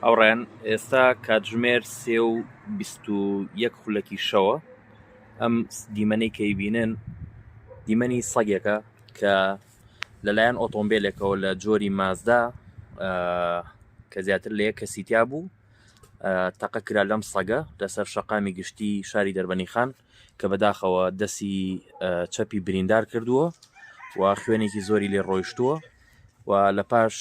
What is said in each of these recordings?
ئەوڕێن ئێستا کاتژمێر سێ و بیست و یەک خولەکی شەوە ئەم دیمەنەی کەی بینن دیمەنی سەگێکە کە لەلایەن ئۆتۆمبیلێکەوە لە جۆری مازدا کە زیاتر لە یەک کەسیتیا بوو تەقە کرا لەم سەگە لەسەر شەقامی گشتی شاری دەربەنی خان کە بەداخەوە دەستی چەپی بریندار کردووە و خوێنێکی زۆری لێ ڕۆیشتووە و لە پاش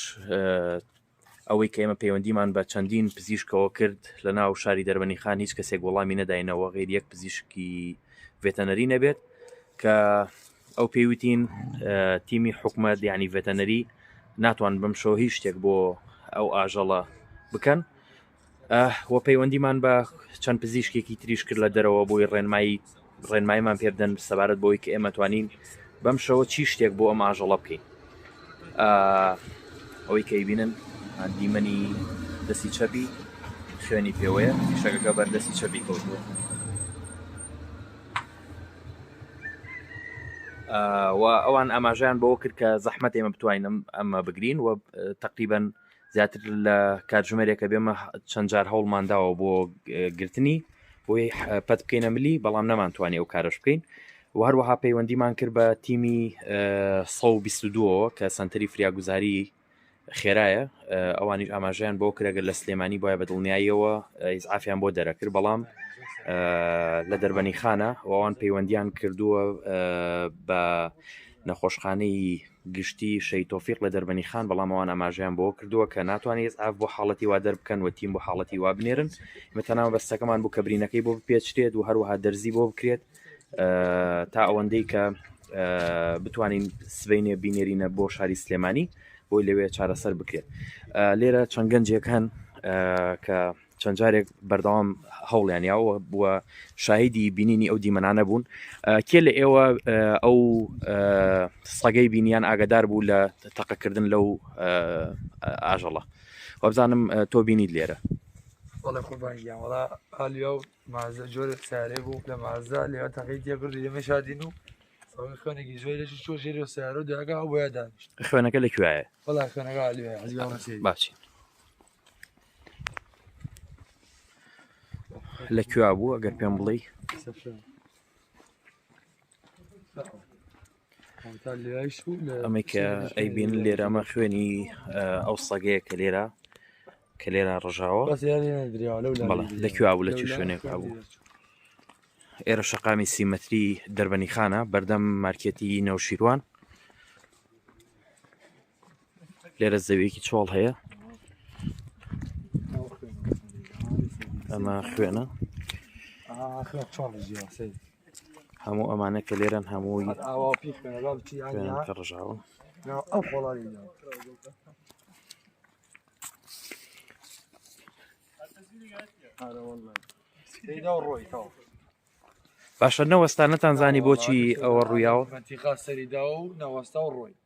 ئەوەی کە ئێمە پەیوەندیمان بە چەندین پزیشکەوە کرد لە ناو شاری دەربەنی خان هیچ کەسێک وەڵامی نەداینەوە غیر یەک پزیشکی ڤێتەنەری نەبێت کە ئەو پێویتین تیمی حکومت ینی ڤێتەنەری ناتوان بم شەوە هیچ شتێک بۆ ئەو ئاژەڵە بکەن و پەیوەندیمان بە چەند پزیشکێکی تریش کرد لە دەرەوە بۆی ڕێنمایی ڕێنمایمان پێبدەن سەبارەت بۆی کە ئێمە توانین بەم شەوە چی شتێک بۆ ئەم ئاژەڵە بکەین ئەوەی کەی بینن دیمەنی دەستی چەپی خوێنی پێوەیە شەکەکە بەردەستی چەپی کەوتووە و ئەوان ئاماژیان بۆ کرد کە زەحمەت ئێمە بتوانین ئەمە بگرین و تقریبن زیاتر لە کاتژمێرێکە بێمە چەند جار هەوڵمانداوە بۆ گرتنی بۆی پەت بکەینە ملی بەڵام نەمانتوانی ئەو کارش بکەین و هەروەها پەیوەندیمان کرد بە تیمی 122 کە سنتری فریاگوزاری خێرایە ئەوانیش ئاماژیان بۆ کرێگە لە سلێمانی بۆە بە دڵنیاییەوە ئیسعافیان بۆ دەرەکرد بەڵام لە دەربەنی خانە وان پەیوەندیان کردووە بە نەخۆشخانەی گشتی شەهید تۆفیق لە دەربەنی خان بەڵام ئەوان ئاماژەیان بۆ کردووە کە ناتوانێت ئیسعاف بۆ حاڵەتی وا دەربکەن و تیم بۆ حاڵەتی وا بنێرن ئێمە تەنها مەبەستەکەمان بوو کە برینەکەی بۆ بپێچرێت و هەروەها دەرزی بۆ بکرێت تا ئەوەندەی کە بتوانین سبینێ بینێرینە بۆ شاری سلێمانی بۆی لەوێ چارەسەر بکرێت لێرە چەند گەنجێک هەن کە چەند جارێک بەردەوام هەوڵیان یاوە و شاهیدی بینینی ئەو دیمەنانە بوون کێ لە ئێوە ئەو سەگەی بینیان ئاگدار بوو لە تەقەکردن لەو ئاژەڵە وابزانم تۆ بینیت لێرە وڵە قوربانگیان وڵا ئالیا و مازە جۆرە سارێ بوو لە مازە لێوە تەقی تێبرد لێمە شادین و خوێنێکی زۆر لەش چۆ ژێری و سیارە و داگا بۆ دانیشت خوێنەکە لە کوێە بەڵا خوێنەکە باچی لە کوێ بوو ئەگەر پێم بڵێ ئەمە کە ئەیبین لێرەمە خوێنی ئەو سەگەیە کە لێرە کە لێرە ڕژاوە لە کوێ بوو لە چی شوێنێک بوو ئێرە شەقامی سیمەتری دەربەنی خانە بەردەم مارکێتی نەوشیروان لێرە زەویەکی چۆڵ هەیە ئەمە خوێنە هەموو ئەمانە کە لێرەن هەمووی ڕژاوە ئەو خۆڵی باشە نەوەستانەتان زانی بۆچی ئەوە ڕوویاوە سەریدا و نەوەستا و ڕۆی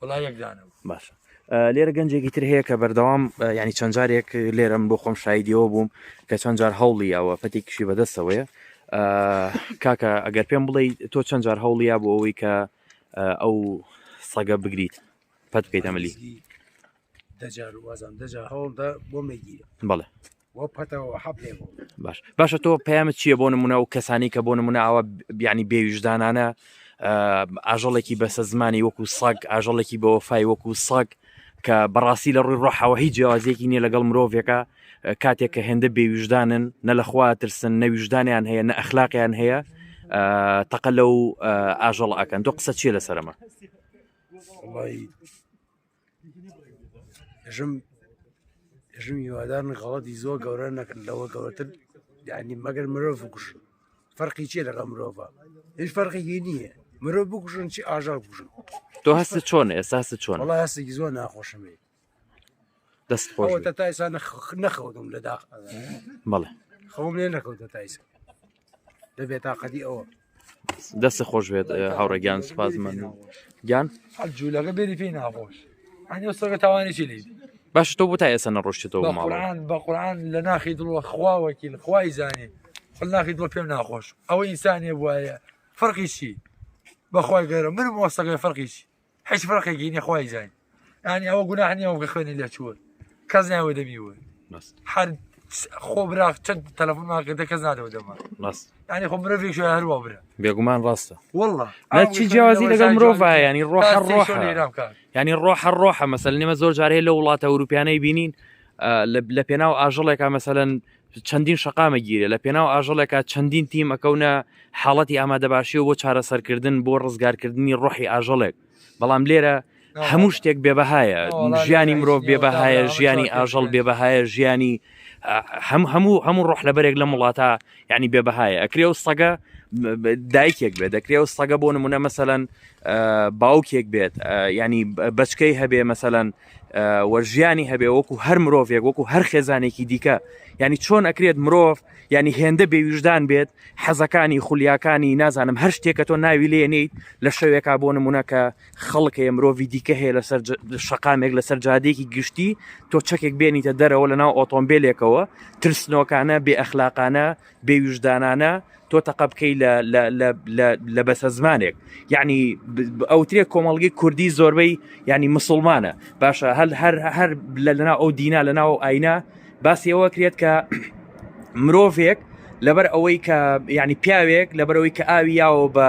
وڵا یەک دانە باشە لێرە گەنجێکی تر هەیە کە بەردەوام ینی چەند جارێک لێرەم بۆ خۆم شایدیەوە بووم کە چەند جار هەوڵی ئەوە پەتێکیشی بەدەستەوەیە کاکە ئەگەر پێم بڵێ تۆ چەند جار هەوڵیا بۆ ئەوەی کە ئەو سەگە بگریت پەت بکەیت ئەمەلی دەجار وازان دەجار هەوڵدا بۆ مەگیرە بڵێ باش باشە تۆ پەیامت چییە بۆ نمونە و کەسانی کە بۆ نمونە ئاوە بیانی بێویژدانانە ئاژەڵێکی بەسە زمانی وەکو ساگ ئاژەڵێکی بە وەفای وەکو ساگ کە بەڕاستی لە ڕووی ڕۆحەوە هیچ جیازێکی نییە لەگەڵ مرۆڤێکە کاتێک کە هێندە بێویژدانن نە لەخوا ترسن نەویژدانیان هەیە نە ئەخلاقیان هەیە تەقە لەو ئاژەڵ ئەکەن تۆ قسە چیە لەسەرمە ژم ژم هیوادار غەڵەتی زۆر گەورە نەکرد لەوە گەورەتر دانی مەگەر مرۆڤ بکوژن فەرقی چیە لەگە مرۆڤ هیچ فەرقێکی نییە مرۆڤ بکوژن چی ئاژار بکوژن تۆ هەستە چۆن ئێستا چۆن وڵ هەستێکی زۆر ناخۆشمێ دەست خۆش تایسان نەخەوتم لە داخ بەڵێ خەوم لێ نەکەوتە تایسان لە بێتاقەتی ئەوە دەست خۆش بێت هاوڕێ گیان سپاس من گیان جوولەکە بێری پێی ناخۆش ئەنی سەگە تاوانێکی لی باش تۆ بۆ تا ئێستا نەڕۆشتەوە ماڵان بە قورآان لە ناخی دڵوە خواوەکی لە خوای زانێ خل ناخی دڵ پێم ناخۆش ئەوە ئینسانێ وایە فەرقیشی بەخوای گەرە من مۆسەکەی فەرقیشی هیچ فڕقێکی نیە خۆی زانین ینی ئەوە گوناح نیە ئەوگە خوێنی لە چوە کەس ناوە دەبی وە هەر خۆ برا چەند تەلەفۆن ماکردە کەس نادەوە دەما ینی خۆ مرۆڤێک شو هەروە برا بێگومان ڕاستە والله چی جیازی لەگەڵ مرۆڤ ینی ڕۆح ڕۆح ینی ڕۆح ڕۆحە مەسەل نێمە زۆر جارەیە لە وڵاتە ئەوروپیانەی بینین لە پێناو ئاژەڵێکا مەسەەن چەندین شقامە گیرێ لە پێناو ئاژەڵێکا چەندین تیم ئەکەونە حاڵەتی ئامادەباشیەوە بۆ چارەسەرکردن بۆ ڕزگارکردنی ڕۆحی ئاژەڵێک بەڵام لێرە هەموو شتێک بێبەهایە ژیانی مرۆڤ بێبەهایە ژیانی ئاژەڵ بێبەهایە ژیانی هەم هەموو هەموو ڕۆح لەبەرێک لە وڵاتە ینی بێبەهایە ئەکرێ و سەگە دایکێک بێت دەکرێ و سەگە بۆ نمونە مەسەەن باوکێک بێت ینی بچکەی هەبێ مەسەەن وەرژیانی هەبێ وەکو هەر مرۆڤێک وەکو هەر خێزانێکی دیکە ینی چۆن ئەکرێت مرۆڤ ینی هێندە بێویژدان بێت حەزەکانی خولیاکانی نازانم هەر شتێکە تۆ ناوی لێنیت لە شەوێکا بۆ نمونە کە خەڵک هەیە مرۆڤی دیکە هەیە لەسەر شقامێک لەسەر جادێکی گشتی تۆ چەکێک بێنیتە دەرەوە لە ناو ئۆتۆمبیلێکەوە ترسنۆکانە بێ ئەخلاقانە بێویژدانانە تۆ تەقە بکەی لە بەسە زمانێک یعنی ئەوترێک کۆمەڵگی کوردی زۆربەی ینی مسلمانە باشە هەل هەر هەر لە لەنا ئەو دینا لە ناو ئاینا باسیەوە کرێت کە مرۆڤێک لەبەر ئەوەی کە ینی پیاوێک لەبەرەوەی کە ئاوی یاوە بە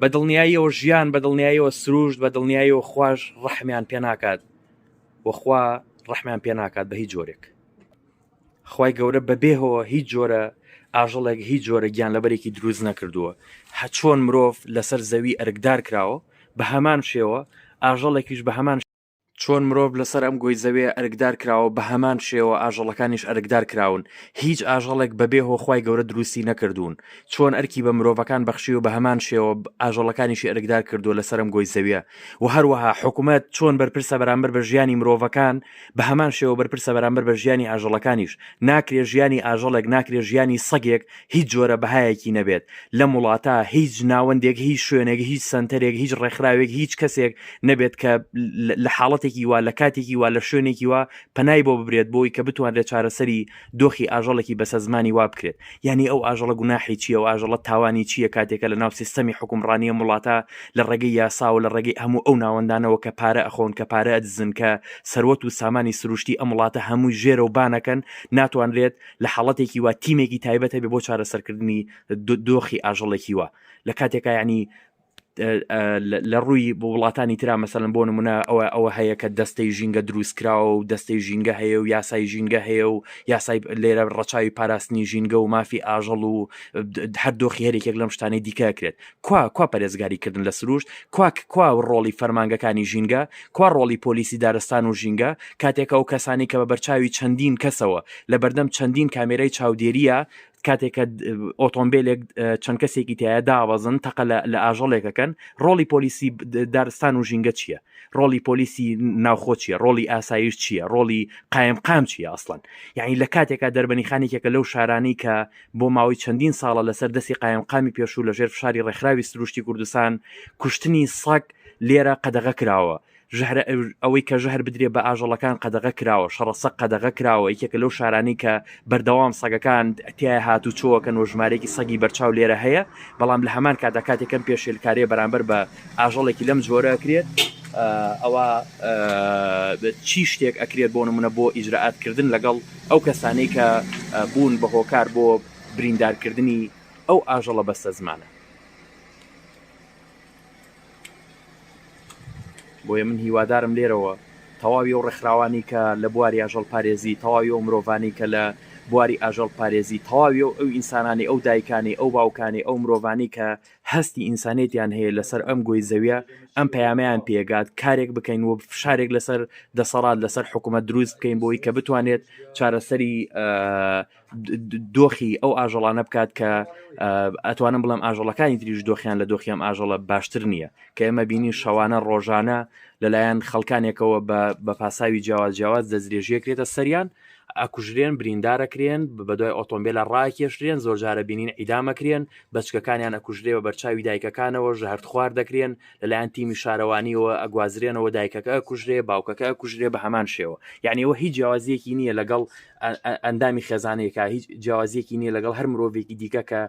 بە دڵنیاییەوە ژیان بە دڵنیاییەوە سروشت بە دڵنیاییەوە خوش ڕەحمیان پێ ناکات وەخوا ڕەحمیان پێ ناکات بە هیچ جۆرێک خی گەورە بەبێهەوە هیچ جۆرە ئاژەڵێک هیچ جۆرە گیان لەبەرێکی دروست نەکردووە هەچۆن مرۆڤ لەسەر زەوی ئەرکدار کراوە بە هەمان شێوە ئاژەڵێکیش بە هەمان چۆن مرۆڤ لەسەر ئەم گۆی زەوێ ئەرکدار کراوە بە هەمان شێوە ئاژەڵەکانیش ئەرکدار کراون هیچ ئاژەڵێک بەبێ هۆخوای گەورە دروستی نەکردوون چۆن ئەرکی بە مرۆڤەکان بەخشی و بە هەمان شێوە ئاژەڵەکانیشی ئەرکدار کردو لەسەرم گۆی زەویە و هەروەها حکوومەت چۆن بەرپرسە بەرامبەر بە ژیانی مرۆڤەکان بە هەمان شێوە بەرپرسە بەرامبەر بە ژیانی ئاژەڵەکانیش ناکرێ ژیانی ئاژەڵێک ناکرێ ژیانی سەگێک هیچ جۆرە بەهایەکی نەبێت لەم وڵاتە هیچ ناوەندێک هیچ شوێنێک هیچ سنتەرێک هیچ ڕێکخراوێک هیچ کەسێک نەبێت کە لە حاڵەتێکی وا لە کاتێکی وا لە شوێنێکی وا پەنای بۆ ببرێت بۆی کە بتوانرێت چارەسەری دۆخی ئاژەڵێکی بەسە زمانی وا بکرێت یعنی ئەو ئاژەڵە گوناحی چیە و ئاژەڵە تاوانی چییە کاتێکە لە ناو سیستەمی حکومڕانیە وڵاتە لە ڕێگەی یاسا و لە ڕێگەی هەموو ئەو ناوەندانەوە کە پارە ئەخۆن کە پارە ئەدزن کە سەروەت و سامانی سروشتی ئەم وڵاتە هەمووی ژێرە و بانەکەن ناتوانرێت لە حاڵەتێکی وا تیمێکی تایبەت هەبێ بۆ چارەسەرکردنی دۆخی ئاژەڵێکی وە لە کاتێکا ینی لە ڕووی بۆ وڵاتانی تررا مەسەن بۆ نمونە ئەوە ئەوە هەیە کە دەستەی ژینگە دروستکراوە و دەستەی ژینگە هەیە و یاسای ژینگە هەیە و یاسای لێرە ڕەچاوی پاراستنی ژینگە و مافی ئاژەڵ و هەردۆخی هەرێکێک لەم شتانەی دیکەکرێت کوا کوا پەرێزگاری کردن لە سروشت کوا کوا ڕۆڵی فەرمانگەکانی ژینگە کوا ڕۆڵی پۆلیسی دارستان و ژینگە کاتێکە و کەسانی کە بە بەرچاوی چەندین کەسەوە لە بەردەم چەندین کامێرای چاودێریە کاتێکە ئۆتۆمبیلێک چەند کەسێکی تایە داوەزن تەقە لە ئاژەڵێکەکەن ڕۆڵی پۆلیسی دارستان و ژینگە چییە ڕۆڵی پۆلیسی ناوخۆ چیە ڕۆڵی ئاسایش چییە ڕۆڵی قایم قام چیە ئەسڵەن یعنی لە کاتێکا دەربەنی خانێکێکە لەو شارانی کە بۆ ماوەی چەندین ساڵە لەسەر دەستی قایمقامی پێشوو لەژێر فشاری ڕێکخراوی سروشتی کوردستان کوشتنی سەگ لێرە قەدەغە کراوە ژهرە ئەوەی کە ژهر بدرێ بە ئاژەڵەکان قەدەغە کراوە شەڕەسە قەدەغە کراوە یەکێکە لەو شارانی کە بەردەوام سەگەکان تیا هات و چۆکەن و ژمارێکی سەگی بەرچاو لێرە هەیە بەڵام لە هەمان کادا کاتێکم پێشێلکارێ بەرامبەر بە ئاژەڵێکی لەم جۆرە کرێت ئەوە چی شتێک ئەکرێت بۆ نمونە بۆ ئیجرراعاتکردن لەگەڵ ئەو کەسانەی کە بوون بە هۆکار بۆ بریندارکردنی ئەو ئاژەڵە بەستەزمانە بۆیە من هیوادارم لێرەوە تەواوی و ڕێکخراوانی کە لە بواری ئاژەڵ پارێزی تەواوی و مرۆڤانی کە لە بواری ئاژەڵ پارێزی تەواوی و ئەو ئینسانانی ئەو دایکانی ئەو باوکانی ئەو مرۆڤانی کە هەستی ئینسانێتیان هەیە لەسەر ئەم گۆی زەویە ئەم پەیامیان پێگات کارێک بکەین و فشارێک لەسەر دەسەڵات لەسەر حکوومەت دروست بکەین بۆی کە بتوانێت چارەسەری دۆخی ئەو ئاژەڵانە بکات کە ئەتوانم بڵم ئاژەڵەکانی تریش دۆخیان لە دۆخیان ئاژەڵە باشتر نییە کە ئێمە بینی شەوانە ڕۆژانە لەلایەن خەڵکانێکەوە بە پاساوی جیاواز جیاواز دەستێژیەکرێتە سەریان ئەکوژرێن بریندارەکرێن بە دوای ئۆتۆمبیلە ڕاکێشرێن زۆرجارە بینین ئیدامەکرێن بەچکەکانیان ئەکوژرێ بە بەرچاوی دایکەکانەوە ژەهرت خوار دەکرێن لەلایەن تیمی شارەوانیەوە ئەگوازرێنەوە دایکەکە کوژرێ باوکەکە کوژرێ بە هەمان شێوە یعنیەوە هیچ جیاوازیەکی نییە لەگەڵ ئەندامی خێزانەیەکە هیچ جیاوازیەکی نییە لەگەڵ هەر مرۆڤێکی دیکە کە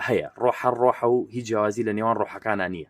هەیە ڕۆحە ڕۆحە و هیچ جیاوازی لە نێوان ڕۆحەکانە نییە